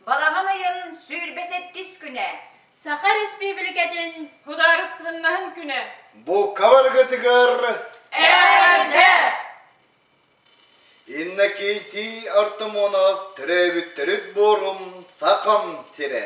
Балаҕан ыйын сүүрбэ сэттис күнэ. Саха Республикатын Судаарыстыбыннаһын күнэ. Булка барыгытыгар Эрдэ! Иннокентий Артамонов төрөөбүттэрит буорум Сахам сирэ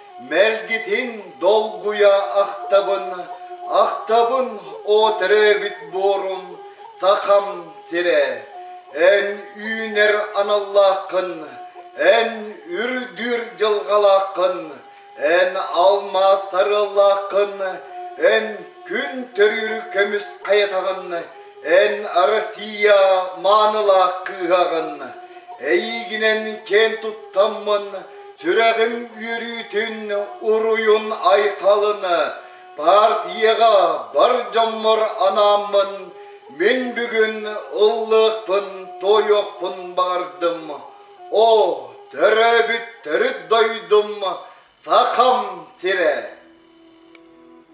Мэлгитин долгуйа ахтабын, ахтабын о төрөөбүт буорум сахам сирэ. Эн үүнэр аналлааххын, эн үрдүр дьылҕалааххын, эн алмаас сарыаллааххын, эн күн төрүүр көмүс хайатаҕын Эн Арассыыйа маанылаах кыыһаҕын, эйиигинэн киэн туттаммын, сүрэҕим үөрүүтүн, уруйун-айхалын, партияҕа бар дьоммор анааммын, мин бүгүн ыллыахпын, туойуохпун баҕардым. Оо, төрөөбүт төрүт дойдум, Сахам сирэ!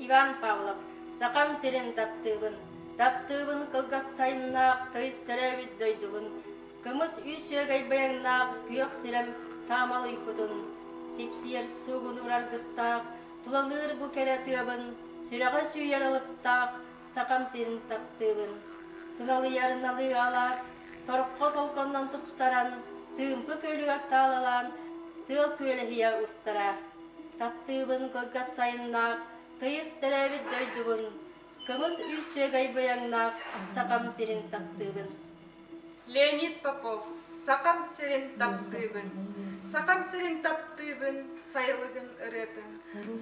Иван Павлов Сахам сирин таптыыбын, таптыыбын кылгас сайыннаах тыйыс төрөөбүт дойдубун, кымыс үүсүөгэй баяҥнаах күөх сирэм саамал уйкутун, сипсиэр суугунуур аргыстаах, тулалыыр бу кэрэ тыабын, сүрэҕэ сүүйэр алыптаах Сахам сирин таптыыбын. Туналыйар налыы алаас, торхо солконнон тупсаран, тыымпы күөлүгэр таалалаан, тыал күөлэһийэ устара. Таптыыбын кылгас сайыннаах, Тыйыс төрөөбүт дойдубун, Кымыс үүсүөгэй быйаҥнаах Сахам сирин таптыыбын. Леонид Попов, Сахам сирин таптыыбын. Сахам сирин таптыыбын, сайылыгын ырыатын.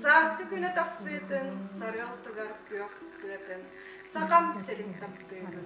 Сааскы күнэ тахсыытын, сарыалтыгар күөх кыатын. Сахам сирин таптыыбын.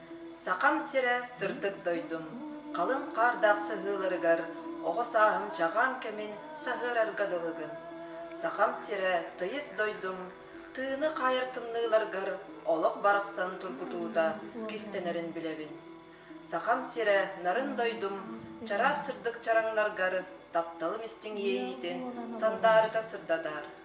Сахам сирэ сырдык дойдум, халыҥ хаардаах саһыыларыгар оҕо сааһым чаҕаан кэмин саһыарарга дылыгын. Сахам сирэ тыйыс дойдум, тыыны хаайар тымныыларгар олох барахсан тургутуута кистэнэрин билэбин. Сахам сирэ нарын дойдум, чараас сырдык чараҥнаргар тапталым истиҥ иэйиитин сандаарыта сырдатар,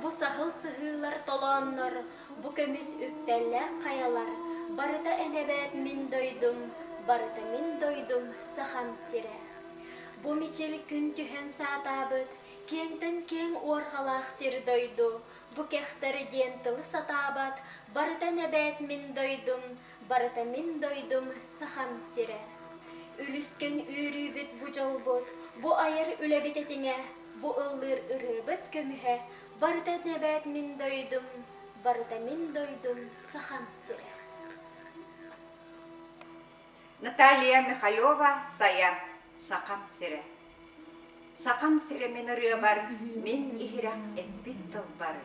Бу саһыл сыһыылар толооннор, бу көмүс үктэллээх хайалар, барыта эн эбээт мин дойдум, барыта мин дойдум Сахам сирэ. Бу мичил күн түһэн саатаабыт, киэҥтэн киэҥ уорҕалаах сир-дойду, бу кэхтэр диэн тылы сатаабат, барыта эн эбээт мин дойдум, Барыта мин дойдум Сахам сирэ. Үлүскэн үөрүүбүт бу дьолбут, бу айар үлэбит этиҥэ, бу ыллыыр ырыабыт көмүһэ, барыта эбээт мин дойдум, барыта мин дойдум Сахам сирэ. Наталья Михалева Сая, Сахам сирэ Сахам сирэ мин ырыабар мин иһирэх эппит тылбар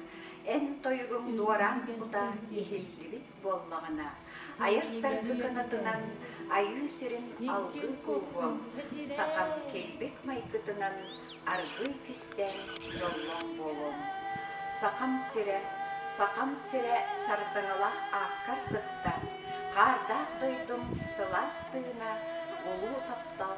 эн тойугуҥ дуораан кута иһиллибит буоллаҕына, айар саргы кынатынан айыы сирин алгыс ууһуом, сахам килбик майгытынан аргыый кистээн дьоллоох буолуом. Сахам сирэ, сахам сирэ сардаҥалаах ааккар кытта, хаардаах дойдум сылаас тыына, улуу таптал